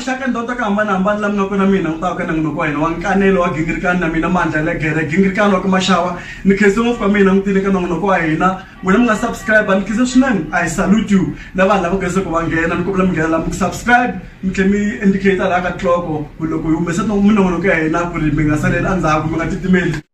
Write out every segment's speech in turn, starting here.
maxaka ndhawu ta ku hambanahambana la mi nga kona mina ngutaka ka nangunoko wa hina wa nkanelo wa gingirikani na mina mandla ya legere gingirikani wa ka maxawa ni khense ngopfu ka mina n'witini ka nangunoko wa hina wena mi nga subscribe ni khense swinene i salute you na vanhu lava geze ku va nghena ni kombela mi nghena lami ku subscribe mi tlhe mi indicate laha ka tloko ku loko hi humesa minongonoko ya hina ku ri mi nga saleli endzhaku mi nga titimeli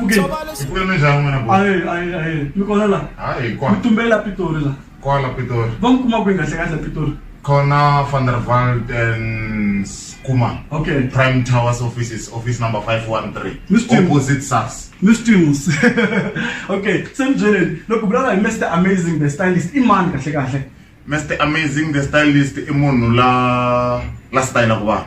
Fuke. Hi ku yeme njhani n'wina bo? Aye, aye, aye. Mi kona la? Hayi Mi kwala tumbela Pitori la. kwala Pitori. Va mi kuma kwihi kahle kahle Pitori? Khona Van der Walt and Skuma. Okay. Prime Towers offices, office number 513. Mr. Opposite SARS. Miss Tunes. okay, se mi byeleni loko vulavula hi Mr Amazing the stylist i mani kahle kahle? Mr Amazing the stylist i munhu la la style ku va.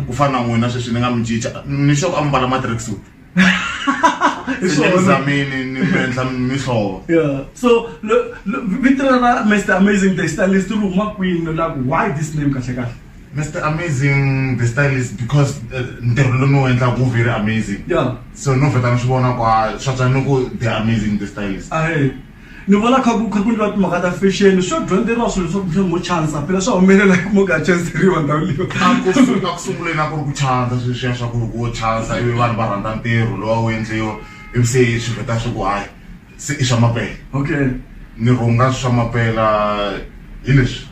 Ku fana na n'wina sweswi ni nga mi cinca. Ni sure ku a mi mbala matrix suit. Hi swona. Nizamini ni mi endla mihlovo. Yeah. So lo- lo- vito ra Mr Amazing the stylist ri huma kwini la ku why this name kahle kahle? Mr. Amazing the stylist because uh, ntirho lowu ni wu endlaka wu very amazing. Yeah. So no vheta ni swi vona kwa swa tswa ni ku the amazing the stylist. Ahe. ni vona kha ku kha ku ndliwa timhaka ta fashion swo dyondzeriwa swilo leswaku mhlawumbe mo chansa phela swa humelela ku mo ka chanseriwa ndhawu leyo a ku su- a ku sunguleni a ku ri ku chandza sweswiya swa ku loko wo chandza ivi vanhu va rhandza ntirho lowa wu endliwa ivi se swi vheta swa ku hayi se i swa mapela okay ni rhunga swa mapela hi leswi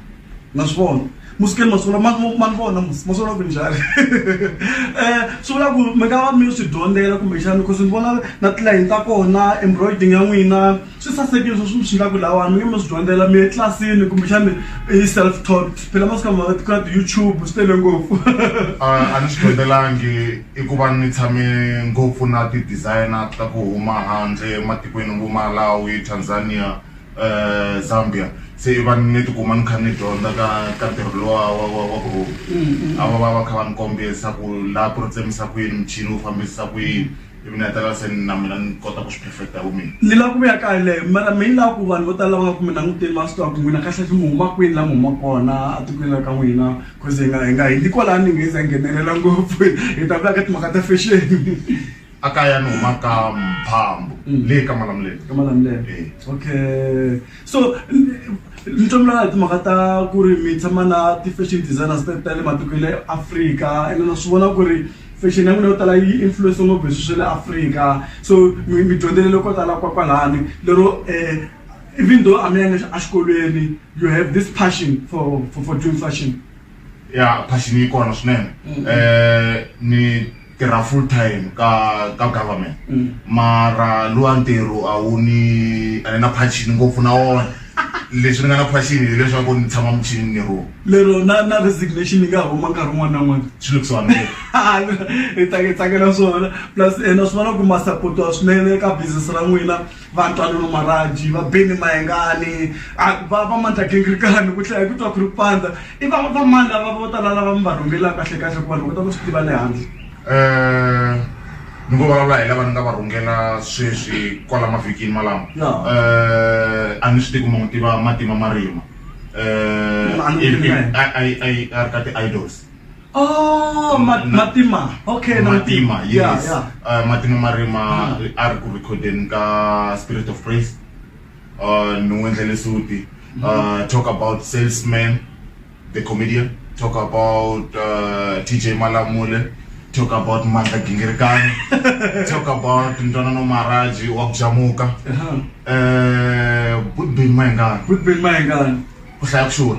ma swi vona musikeni masungula ma ni vona musi ma sungula ku njhani um swi vula ku mi nga va mi swi dyondzela kumbexana because ni vona na tilayini ta kona embroiding ya n'wina swi sasekile swo swi mi swi nga ku lawani mi nge mi swi dyondzela mi ye tlilasini kumbexana i self taught phela masiku lama ku na ti-youtube swi tele ngopfu a ni swi dyondzelangi i ku va ni tshame ngopfu na ti-designer ta ku huma handle ematikweni vo malawi tanzania eh, zambia se va ni tikuma ni kha ni dyondza ka ka ntirho lowa wa wa wa ku rhunga Mm, mm. a va va va kha va ni kombisa ku laha ku ri tsemisa ku yini muchini wu fambisa ku yini ivi ni hetelela se ni na mina ni kota ku swi perfecta hi vumina ni lava ku vuya kaya leyo mara mi ni lava ku vanhu vo tala lava nga ku mi languteni va swi tiva ku n'wina kahlekahle mi huma kwini la mi huma kona etikweni la ka n'wina bcause hi nga hi nga hindzi kwalani hi nga hi za hi nghenelela ngopfu hi ta vuya ka timhaka ta fexeni a kaya ni huma ka mphambo mm. leyi ka malamulelo ka malamulelo eh. okay so ni tlombulana hi timhaka ta ku ri mi tshama na ti-fashion designers ta le matiko le afrika ene na swi vona ku ri fashion ya n'wina yo tala yi influence ngopfu hi swi swa le afrika so mi dyondzelele ko tala kwa kwalani lero um even though a mi yanga exikolweni you have this passion for, for, for doing fashion ya passion yi kona swinene um ni tirha full time ka ka government mm. mara luwa ntirho a wu ni a ni na phachini ngopfu na wona leswi ni nga na phachini hileswaku ni tshama muchini ni ro lero na na resignation yi nga huma nkarhi wun'wana na n'wana swi lukisiwa ni hi tsake tsakela swona plus ena swi vona ku ma supportiwa swinene ka business ra n'wina vatwanano maraji va beni mayengani va va mandla gingirikani ku tlhela ku twa ku ri pandza i va va mani lava vo tala lava mi va rhungelaka kahle kahle ku vanhu va ta ku swi tiva le handle um ni ngo vulavula hi lava ni nga va rhungela sweswi kwala mavhikini malama um a ni swi tivi kuma n'wi tiva matima marima um a ri ka ti-idols Oh, ma- Na- Matima. Okay, na matima yes Yeah, yeah. Uh, matima marima a ri ku recordeni ka spirit of praise uh, ni n'wi endlele suti uh, talk about salesman the comedian talk about uh, tj malamule talk about mandla gingirikani talk about ntwanano maraji wa kujamuka Uh-huh. uh, budbin mayengani Good been my gun. ku hlaya ku xurha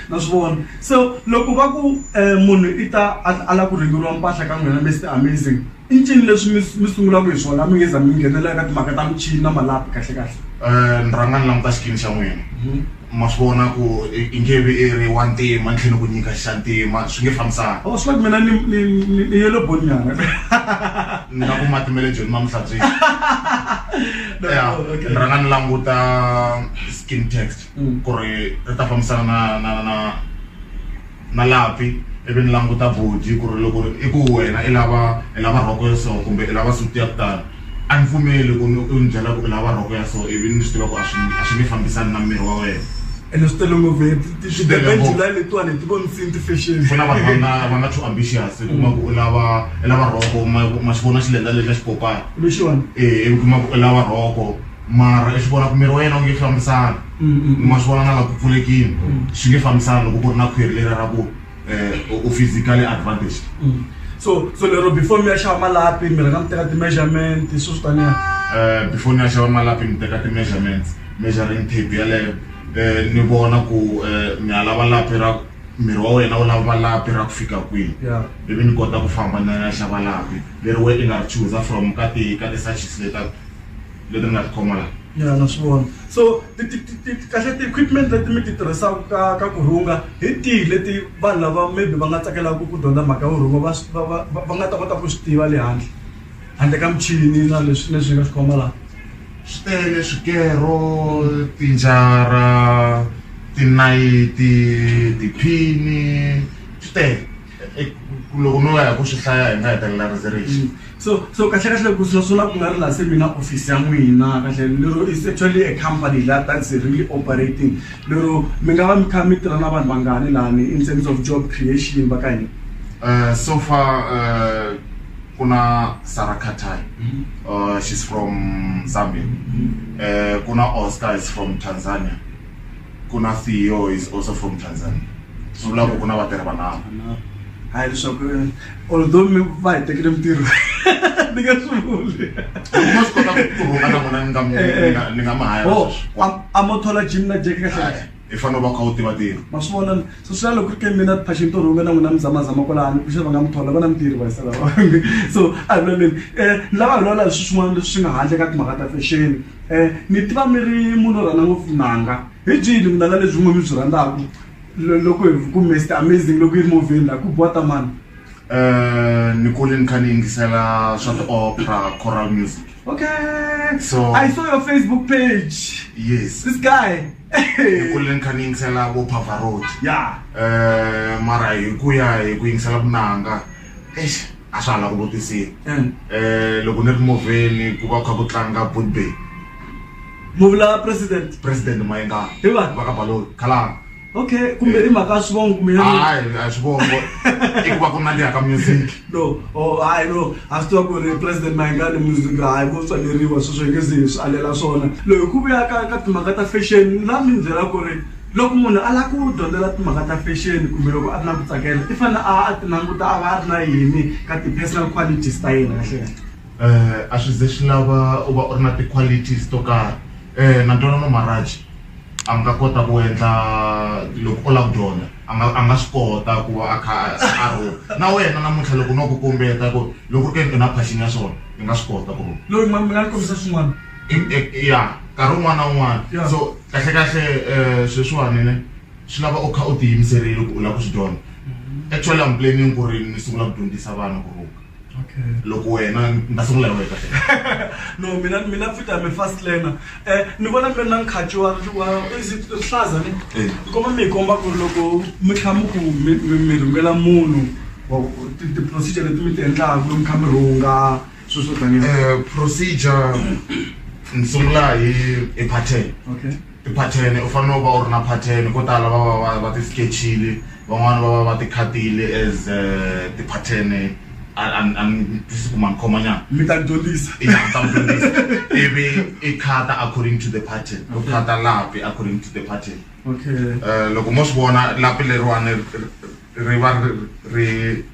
na swi vona so loko va ku um munhu i ta a lava ku rhengeriwa mpahla ka n'wina mister amazing i ncini leswi mi mi sungulaka hi swona mi nge za mi nghenelela ka timhaka ta michini na malapi kahle kahle um ni rhanga ni languta xikini xa n'wina mhm. ma swi vona ku i nge vi i ri wa ntima ni tlhela ni ku nyika xa ntima swi nge fambisana o oh, swi la ku mina ni ni ni yelo bonyana ni nga ku matimele joni ma mihlabyini ya ni rhanga ni languta skin text ku ri ri ta fambisana na na na na lapi ivi ni languta body ku ri loko i ku wena i lava i lava rhoko ya so kumbe i lava suti ya ku tala a ni pfumeli ku ni u ni byela ku i lava rhoko ya so ivi ni swi tiva ku a swi a swi nge fambisani na miri wa wena ene swi tele ngopfu July letiwani ti vonisiwini ti-fashion ku na vanhu va nga va nga too ambitious i kuma ku u lava i lava rhoko ma ma xi vona xi lendza lexi a xi popaka lexiwani e ivi kuma ku i lava rhoko mara i swi vona ku miri wa yena wu nge fambisana ni ma swi vona na la ku pfulekini swi nge fambisana loko ku ri na khwiri leri ra ku um u physically advantaged so so lero before mi ya xava malapi mi rhanga mi teka ti-measurement swi swi taniya um before ni ya xava malapi ni teka ti-measurements measuring tape yaleyo um ni vona ku um ni ya lava lapi ra miri wa wena wu lava lapi ra ku fika kwihi ya ivi ni kota ku famba ni ya xava lapi leri we i nga ri chooser from ka ti ka ti-searches leta leti ni nga ti khoma la ya na swi vona so ti ti ti ti kahle ti-equipment leti mi ti tirhisaka ka ka ku rhunga hi tihi leti vanhu lava maybe va nga tsakelaka ku dyondza mhaka yo rhunga va swi- va va va- va nga ta kota ku swi tiva le handle handle ka michini na leswi leswi hi nga swi khoma laha swi tele swikero tinjara tinayiti tiphini swi tele Loko no ya ku swi hlaya hi nga hetelela ri ze rixa. So so kahle kahle ku sweswo la ku nga ri la se mi na office ya n'wina kahle lero is actually a company la that is really operating lero mi nga va mi kha mi tirha na vanhu vangani lani in terms of job creation va ka hina. So far ku na Sarah Khathai she's from Zambia ku na Oscar is from Tanzania. ku na Theo is also from Tanzania swi vula ku ku na vatirhi vanharhu hayi leswaku although mi va hi tekele mintirho ni nge swi vuli mo swi kota ku rhunga na n'wina ni nga mi- Eh, eh. ni nga- ni nga mi haya Oh, sweswi am- a mo thola jim na jeke kahle kahle i fanele u va u kha u tiva tiko ma swi vona so swi lalo ku ri ke mina phashini to rhunga na n'wina mi zamazama kwalani ku xava nga mi thola vana mintirho va hisela so a hi vulaleni um ni lava hi lwala hi swi swin'wana leswi swi nga handle ka timhaka ta fexeni um mi tiva mi ri munhu o rhandza ngopfu timanga hi byihi ni vunanga lebyi n'we mi byi rhandzaka loko hi ku mest amazing loko yi ri movheni laha ku biwa tamani um ni kule ni kha ni yingisela swa ti-opera coral music okay so i saw your facebook page yes this guy ni kule ni kha ni yingisela vo pavarot ya um mara hi ku ya hi ku yingisela vunanga eish a swa ha la ku vutisiwa um loko ni ri movheni ku va ku kha ku tlanga budbay muvula president president mayenga Hi va? va ka baloni khalanga okay kumbe i mhaka ya swivongo kumbe ya yini? hayi a swi vongo i ku va ku nandziha ka music no oh hayi no a swi tiva ku ri president mayengani music hayi ko tswaleriwa sweswo hi nge ze hi swi alela swona loyi ku vuya ka ka timhaka ta fashion la mi byela ku ri Loko munhu a lava ku dyondzela timhaka ta fashion kumbe loko a ri na ku tsakela i fanele a a ti languta a va a ri na yini ka ti-personal qualities ta yena kahle kahle? A swi ze swi lava u va u ri na ti-qualities to karhi na Ntwanano Marhaj a nga kota ku endla loko u lava ku dyondza a nga a nga swi kota ku va a kha a rhunga na wena namuntlha loko no ku kombeta ku loko ku ri ke ni u na passion ya swona i nga swi kota ku rhunga. Lori ma mi nga ni kombisa swin'wana. ya nkarhi wun'wana na wun'wana so kahlekahle um sweswiwani ne swi lava u kha u tiyimiserile ku u lava ku swi dyondza mm-hmm. actually am planning ku ri ni sungula ku dyondzisa vana ku rhunga loko wena ni ta sungula hi wena kahle no mina mina futhi ame fast learner um ni vona mi ri na nkhaci wa rihlaza ne eh. ni komba mi hi komba ku ri loko mi tlha mi ku mi rhungela munhu ti-procedure leti mi ti endlaku mi kha mi rhunga Sweswo tanihi Eh, procedure ni sungula hi hi pattern okay ti-pattern u fanele u va u ri na pattern ko tala va va va va ti-sketchile van'wani va va va ti-khatile as eh, ti-pattern a a a ni tisi ku ma ni khoma nyana mi ta ni dyondzisa ya ta mi dyondzisa ivi i khata according to the pattern u khata lapi according to the pattern okay Eh, loko mo swi vona lapi leriwani ri- ri- ri va ri ri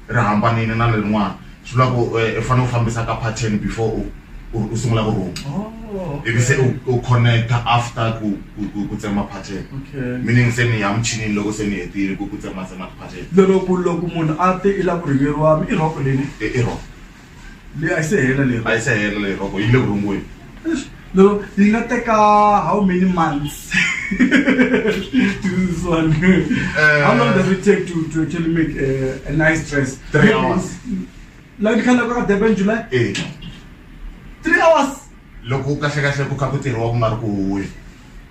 ri hambanile na lerin'wana swi vula ku eh, u fanele u fambisa ka pattern before u u- u sungula ku rhuma Oh, ivi se u u connecta after ku ku- ku ku tsema pattern Okay. meaning se ni ya muchinini loko se ni hetile ku ku tsematsema tipattern loko loko munhu a te i la ku rhiveriwa mi i rhoko leni i i wrong leyi a yi se hela leyi a yi se hela leyi rhoko yi le vurungweni lero yi nga teka how many months this one uh, how long does it take to, to actually make a, a nice dress three hours la ni khala ka durban july eh. three hours loko kahle kahle ku kha ku tirhiwa ku nga ri ku huwe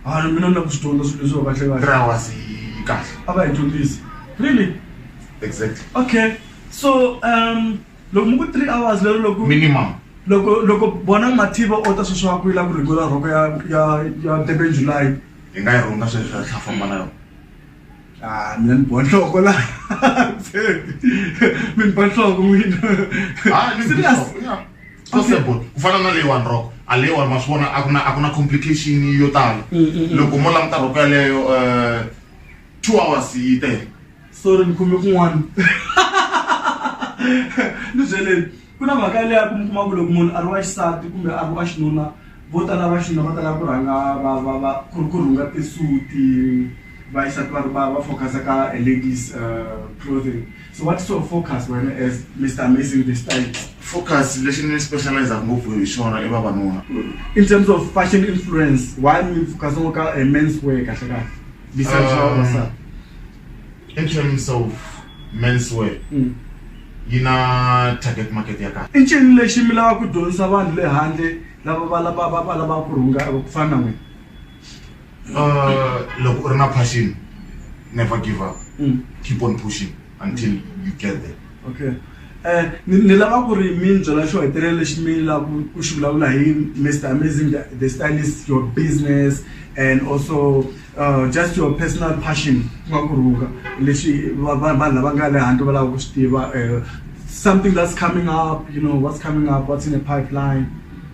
a ni mina ni la ku swi dyondza swilo leswi va kahle kahle three hours yi kahle a va hi dyondzisi really exactly okay so um loko muku three hours lero loko minimum loko loko bona mathiva o ta sweswi wa ku yila ku rhungola rhoko ya ya ya durban july hi nga yi rhunga sweswi ya tlha famba na yona a ah, mina ni boha nhloko la mi ni ba nhloko n'wina ah, serious so simple ku fana na leyiwani roko a leyiwani ma swi vona a ku na a ku na complication yo tala mm, mm, mm. loko mo languta roko yaleyo um eh, two hours yi tele sorry ni khome kun'wana ni byeleni ku na mhaka leya ku mi kuma ku loko munhu a ri wa xisati kumbe a ri wa xinuna vo tala va xinuna va tala ku rhanga va va va ku ri ku rhunga tisuti va xisati va va va focus-a ka a ladies uh, clothing so what is your focus wena as mr amazing the style focus lexi ni specialize-aka ngopfu hi xona i vavanuna in terms of fashion influence why mi focus-a ngo ka a men's way kahle kahle Besides um, all that, in terms of menswear, mm. yi na target market ya kahle i ncini lexi mi lava ku dyondzisa vanhu le handle lava va lava va va lava ku rhunga ku fana na n'wina uh, loko u ri na passion never give up mm. keep on pushing until you get there okay um ni lava ku ri mi ni byela xo hetelela lexi mi lava ku xi vulavula hi mister amazing the stylist your business and also uh, just your personal passion ku nga ku rhunga leswi vanhu lava nga le handle va lava ku swi tiva um something that's coming up you know what's coming up what's in the pipeline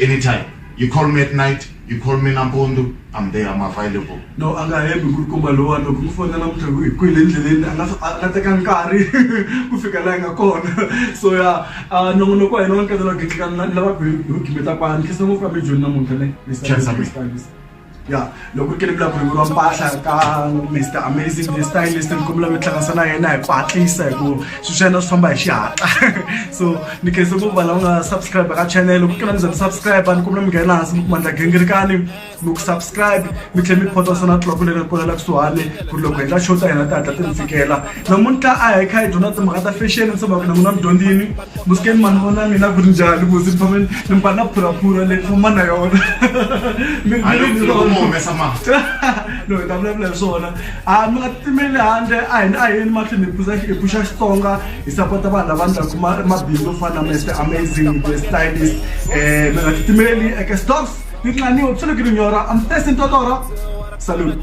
anytime you call me at night you call me nampundu i'm there i'm available no a nga hembi ku ri komba lowani loko mi fona namuntlha ku hi kwile endleleni a nga a nga teka nkarhi ku fika laha yi nga kona so ya a nongonoko wa hina wa nkatela gitlikana lava ku hi gimeta kwani khensa ngopfu ka mijoni namuntlha ne Khensa mina. ya loko ku ri ke ni vulaka ku rivuriwa mpahla ka mister amazing the stylist ni kombela mi tihlanganisa na yena hi ku hatlisa hi ku swilo swa yena swi famba hi xihatla so ni khense ngopfu vanhu lava nga subscribe ka channel loko ku ri ke na mi za mi subscribe ni kombela mi nghena hansi mi kumandla gingirikani mi ku subscribe mi tlhela mi photasa na tloko leri ri kolela kusuhani ku ri loko hi nga xota hina ti hatla ti mi fikela namuntlha a hi kha hi dyondza timhaka ta fashion se vaku na n'wina mi dyondzini musikeni mani vona mina ku ri njhani ku ndzi tshame ni mba na phuraphura leyi fuma na yona no hi ta vulavula hi swona a mi nga titimeli handle a hina a yeni mahlweni hi pusa hi puxa xitsonga hi sapota vanhu lava ndlaku mabindzu yo fana na mester amazing the stylist um mi nga titimeli eke stocks ni tlaniwa ku sale ku ri nyora am testing totoro salute